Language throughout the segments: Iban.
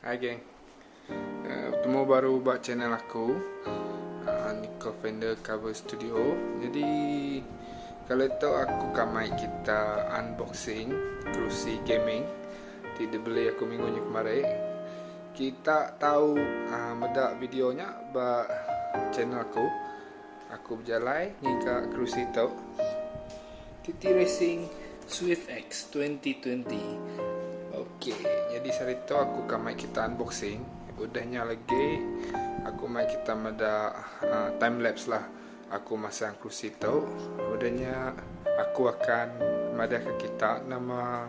Hai geng uh, Bertemu baru ba channel aku uh, Nicole Fender Cover Studio Jadi Kali tu aku kamai kita unboxing Kerusi gaming Ti dibeli aku minggu ni kemari Kita tahu uh, meda video nya ba channel aku Aku bejalai ngiga kerusi tu. TT Racing Swift X 2020. Okey, jadi sehari tu aku akan mai kita unboxing. Udahnya lagi aku mai kita meda uh, time lapse lah. Aku masang kerusi tu. Udahnya aku akan madah ke kita nama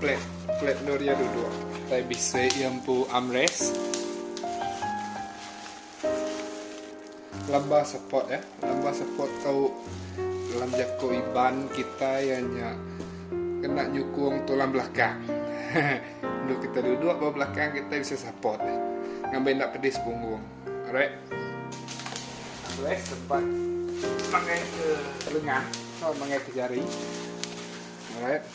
Flat, flat endur iya duduk. Utai bisi iya empu armrest. Lamba support ya, lamba support tu dalam jaku Iban kitai iya nya kena nyukung tulang belakang. Endur kitai duduk ba belakang kitai bisi support nya ngambi enda pedis punggung. Alright. Armrest tempat mangaika lengan atau mangaika jari. Alright.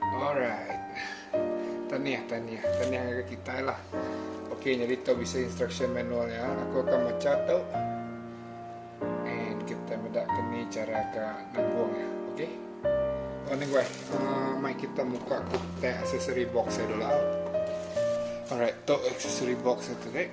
Alright. Tanih, tanih. Tanih ngagai kitai lah. Okey, nyadi tu bisi instruction manual nya. Aku akan macha tu. And kita meda ke ni cara ke nabung nya. Okey. Oh, ni guai. Uh, mai kita muka ku tag accessory box ya dulu. Alright, tu accessory box tu dek.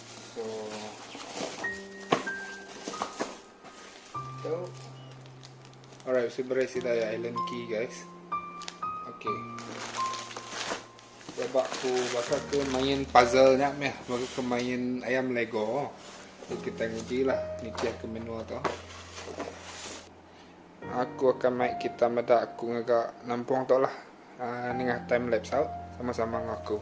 Alright, bisi berai sida ya Allen key guys. Okey. Sebab ku baka ke main puzzle nya meh, baka ke main ayam Lego. So, kita nguji lah nitih ke manual tu. Aku akan mai kita meda aku ngaga nampung tu lah. Uh, nengah time lapse out sama-sama ngaku.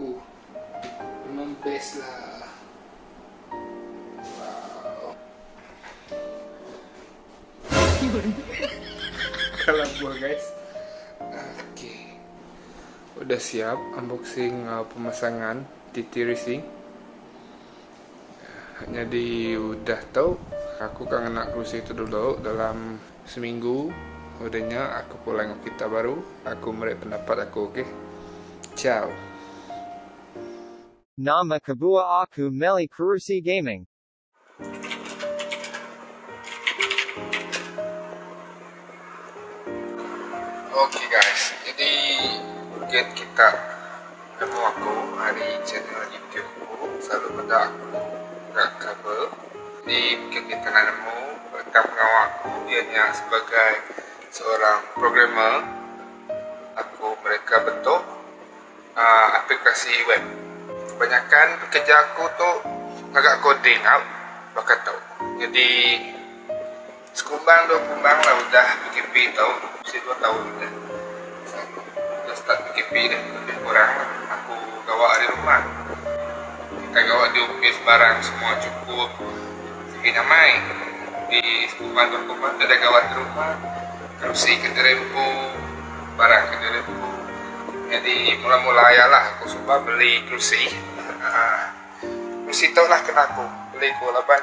Ooh memang best lah. Wow. Yun. Kalah buah guys. Oke. Udah siap unboxing uh, pemasangan TT Racing. Jadi udah tau aku kan ngena kerusi tu dulu dalam Seminggu udah nya aku pulai enggau kerita baru, aku meri pendapat aku okey. Ciao. Nama kebuah aku meli kerusi gaming? Ok guys, jadi game kita. Temu aku ari channel youtube ku selalu meda aku ga cover ni mungkin di tanah nemu reta pengawa aku iya nya sebagai seorang programmer aku mereka bentuk aaa aplikasi web kebanyakan kerja aku tu ngaga coding au baka tu nyadi Sekumbang dua kumbang lah udah PKP tau bisi dua taun dah udah start PKP dah lebih kurang lah aku gawa ari rumah kita gawa di opis barang semua cukup sigi nyamai di sekumbang dua kumbang kada gawa di rumah kerusi ke diri empu barang ke diri empu nyadi mula mula aya lah aku suba beli kerusi aaa kerusi tau lah kena aku beli ku laban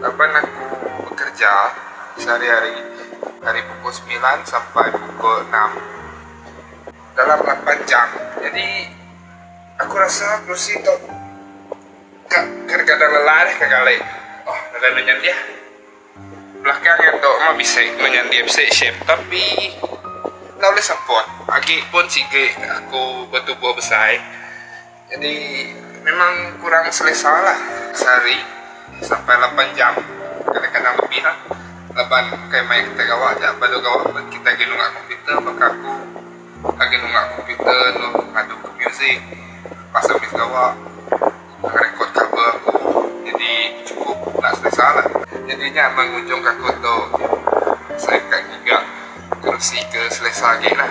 Laban aku bekerja sehari-hari ari pukul semilan sampai pukul enam dalam lapan jam jadi aku rasa kerusi tu ka kadang-kadang lelah deh ke gali oh lalu anu nya deh belakang nya tu meh bisi anu nya deh bisi shape tapi enda ulih semput agi pun sigi aku betubuh besai. Jadi memang kurang selesa lah. Sehari sampai lapan jam kadang-kadang lebih lah laban ukai maya kitai gawa aja balu gawa pun kitai agi nunga komputer baka aku agi nunga komputer lalu ngadu ke muzik lepas ambis gawa ngerekod cover aku jadi cukup enda selesa lah. Jadi nya meh ngujung ke aku tu saya ka ngiga kerusi ke selesa agi lah.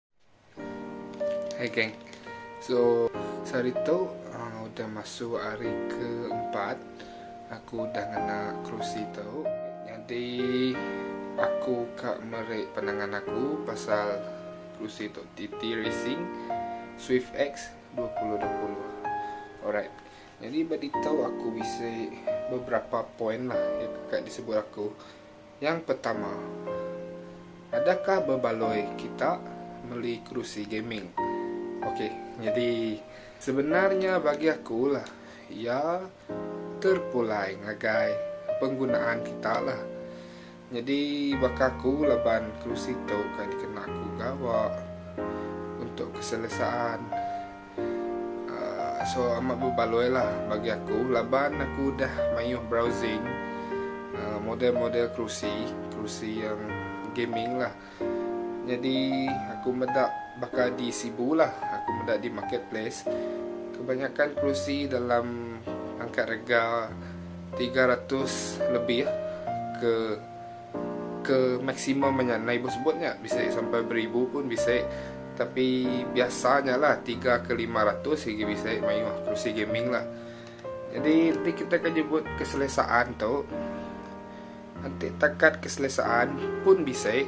Hai geng. So sehari tu uh, udah masuk hari keempat aku udah ngena kerusi tu. Jadi aku ka meri pandangan aku pasal kerusi tu TT Racing Swift X 2020. Alright. Jadi bagi tau aku bisi beberapa poin lah yang ka disebut aku. Nyang pertama, adakah bebaloi kita meli kerusi gaming? Okey, nyadi sebenarnya bagi aku lah, iya terpulai ngagai penggunaan kita lah. Nyadi baka aku laban kerusi tu kai dikena aku gawa untuk keselesaan. So amat bebaloi lah bagi aku laban aku udah mayuh browsing model-model kerusi, kerusi yang gaming lah. Nyadi aku meda baka di Sibu lah, aku meda di marketplace kebanyakan kerusi dalam pangkat rega tiga ratus lebih ke. Ke maksimum nya endai ibuh sebut nya bisi sampai beribu pun bisi tapi biasa nya lah tiga ke lima ratus agi bisi mayuh kerusi gaming lah jadi enti kita ke nyebut keselesaan tu enti takat keselesaan pun bisi.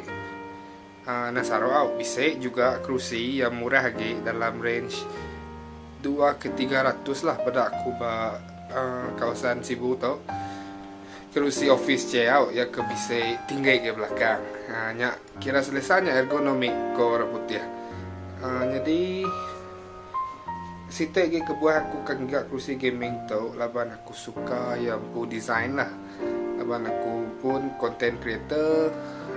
Nasaro au bisi juga kerusi iya murah agi dalam range dua ke tiga ratus lah peda aku ba kawasan Sibu tu. Kerusi office che au iya ke bisi tinggi agi belakang. Nya kira selesa nya ergonomic ko orang putih. Nyadi. Siti agi kebuah aku ka ngaga kerusi gaming tu laban aku suka iya empu design lah. Laban aku pun content creator,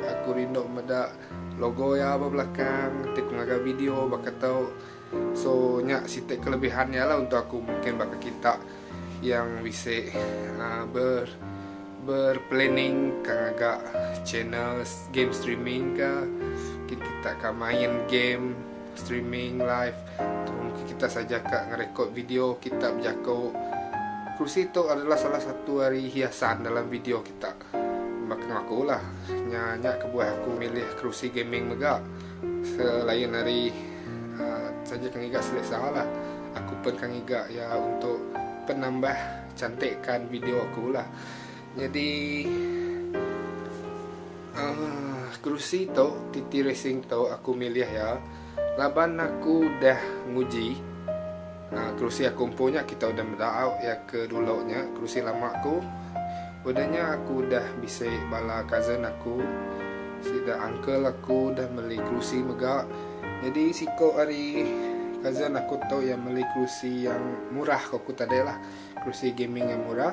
aku rindu meda logo iya ba belakang ti ku ngaga video baka tu. So nya siti kelebihan iya lah untuk aku mungkin baka kita yang bisi aaa ber ber planning ka ngaga channel game streaming ka. Mungkin kita ka main game. Streaming live tu mungkin kita saja ka ngerekod video kita bejako. Kerusi tu adalah salah satu ari hiasan dalam video kita. Baka enggau aku lah, nya nya kebuah aku milih kerusi gaming mega. Selain ari saja ke ngiga selesa lah, aku pun ka ngiga iya untuk penambah cantikkan video aku lah. Nyadi uhh kerusi tu TT Racing tu aku milih iya laban aku udah nguji uhh kerusi aku empu nya kita udah meda au iya ke dulu nya kerusi lama aku udah nya aku udah bisi bala cousin aku sida uncle aku udah meli kerusi mega nyadi siko ari cousin aku tu iya meli kerusi yang murah ko ku tadi lah kerusi gaming yang murah.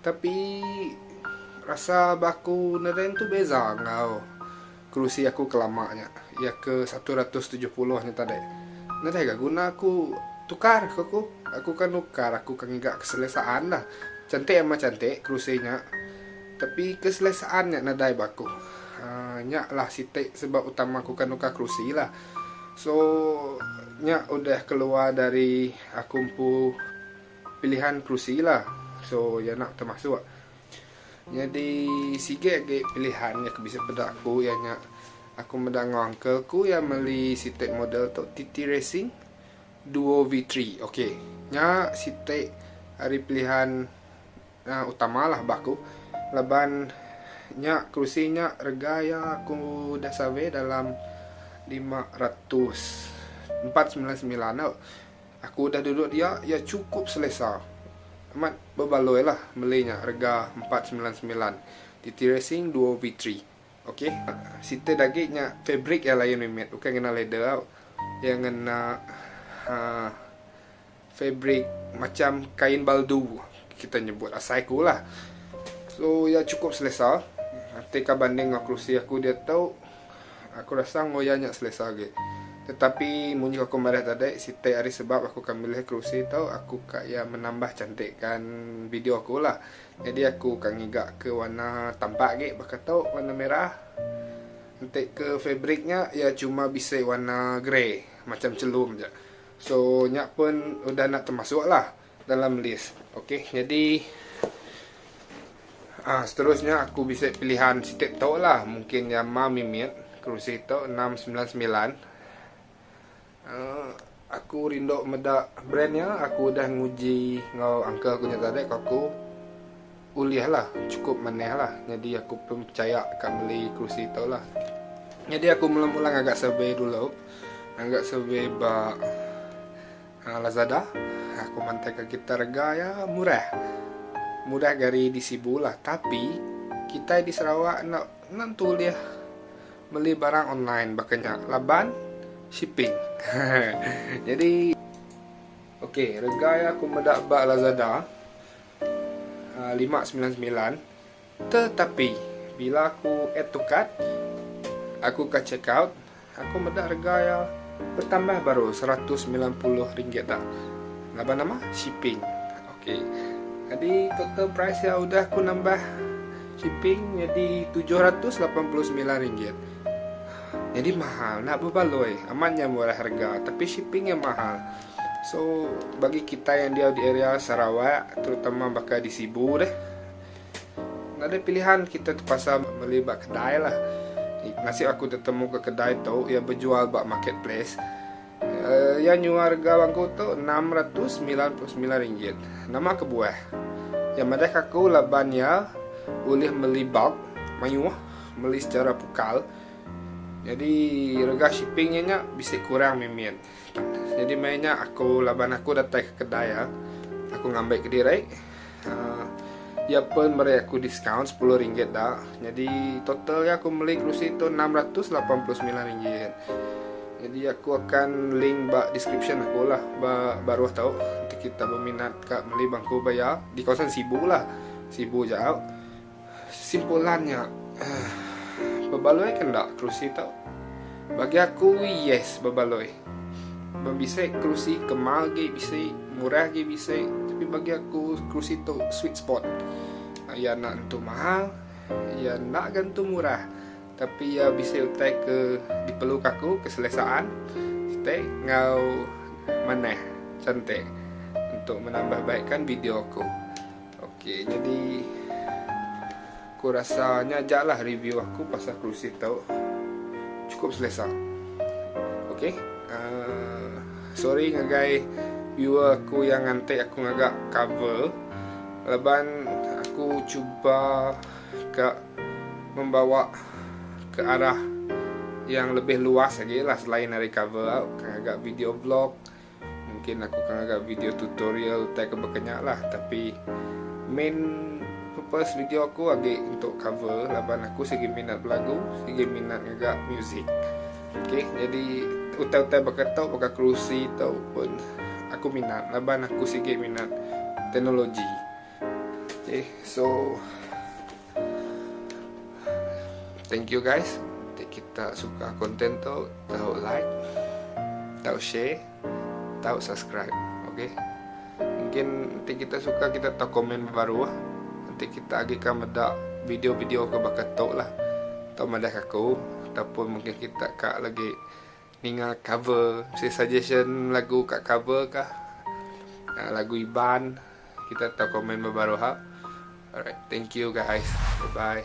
Tapi rasa ba aku neren tu beza enggau kerusi aku ke lama nya iya ke satu ratus tujuh puluh nya tadi. Nereh ga guna aku tukar ke ku. Aku ke nukar aku ke ngiga keselesaan lah. Cantik amat cantik kerusi nya tapi keselesaan nya nadai ba aku. Aaa nya lah siti sebab utama aku ke nukar kerusi lah. So nya udah keluar dari aku empu. Pilihan kerusi la so iya nya termasuk nyadi sigi agi pilihan nya ke bisi peda aku iya nya aku meda enggau uncle aku iya meli siti model tu TT racing duo V three ok nya siti ari pilihan utama la ba aku laban nya kerusi nya rega iya aku udah survey dalam lima ratus empat semilan semilan tu. Aku udah duduk dia, iya chukup selesa. Amat bebaloi lah meli nya rega empat semilan semilan TT Racing duo V three. Ok. Sitai dagi nya fabric iya layan mimit ukai ngena leather au. Iya ngena uhh fabric macham kain baldu kita nyebut asai aku lah. So iya chukup selesa. Ti ka banding enggau kerusi aku diatu. Aku rasa enggau iya nya selesa agi. Tetapi munyi aku madah tadi, siti ari sebab aku ka milih kerusi tu aku ka iya menambah cantikka video aku lah. Nyadi aku ka ngiga ke warna tampak agi baka tu warna merah. Enti ke fabric nya iya cuma bisi warna grey macam chelum ja. So nya pun udah enda temasuk lah. dalam list ok jadi ah seterusnya aku bisa pilihan sitip tu lah mungkin yang ma mimit kerusi tu 699 uh, aku rindu meda brand nya aku dah nguji ngau uncle aku nya tadi aku ulih lah cukup maneh lah jadi aku pun percaya akan beli kerusi tu lah jadi aku mula-mula agak survey dulu agak survey ba Lazada, aku mantaika gitar rega iya murah. Murah ga ari di Sibu lah, tapi kitai di Sarawak enda enda tentu ulih meli barang online baka nya laban shipping. Nyadi ok rega iya aku meda ba Lazada lima semilan semilan Tetapi, bila aku add to cart, aku ka check out, aku meda rega iya betambah baru seratus semilan puluh ringgit da. Laban nama? Shipping. Ok. Nyadi total price iya udah aku nambah shipping nyadi tujuh ratus lapan puluh semilan ringgit. Nyadi mahal enda bebaloi. Amat nya murah rega tapi shipping iya mahal. So, bagi kitai yang diau di area Sarawak terutama baka di Sibu deh. Enda deh pilihan kita terpaksa beli ba kedai lah. Nasib aku tetemu ke kedai tu iya bejual ba market place. Iya nyual rega bangku tu enam ratus semilan puluh semilan ringgit. Nama kebuah. Iya madahka aku laban iya ulih meli bulk mayuh meli secara pukal. Jadi rega shipping iya nya bisi kurang mimit. Nyadi maya nya aku laban aku datai ke kedai iya, aku ngambai kediri. Uh, iya pun meri aku diskaun sepuluh ringgit da. Nyadi total iya aku meli kerusi tu enam ratus lapan puluh semilan ringgit. Nyadi aku akan link ba deskripsyen aku lah ba baruh tu untuk kita beminat ka meli bangku ba iya di kawasan Sibu lah. Sibu jau. Kesimpulan nya, bebaloi ke enda kerusi tu? Bagi aku yes bebaloi. Bebisi kerusi ke ma agi bisi, murah agi bisi tapi bagi aku kerusi tu sweet spot. Iya enda nentu mahal, iya enda ga nentu murah tapi iya bisi utai ke diperluka aku, keselesaan siti enggau manah chantik untuk menambah baikkan video aku. Ok jadi aku rasa nya aja lah review aku pasal kerusi tu cukup selesa ok uh, sorry ngagai viewer aku yang ngantik aku ngagak cover laban aku cuba ke membawa ke arah yang lebih luas lagi lah selain dari cover aku ngagak video vlog Mungkin aku ke ngaga video tutorial tai ke baka nya lah tapi main purpose video aku agi untuk cover laban aku sigi minat belagu, sigi minat ngaga music. Okay, jadi utai-utai baka tu, baka kerusi tu pun aku minat laban aku sigi minat teknologi. Okay, so Thank you guys ti kita suka konten tu tau like tau share tau subscribe okey mungkin ti kita suka kita tau komen baru ah nanti kita agi ka meda video-video ke baka tu lah tau madah aku ataupun mungkin kita ka lagi Ninga cover mesti suggestion lagu ka cover ka lagu iban kita tau komen ba baru ha alright thank you guys bye bye.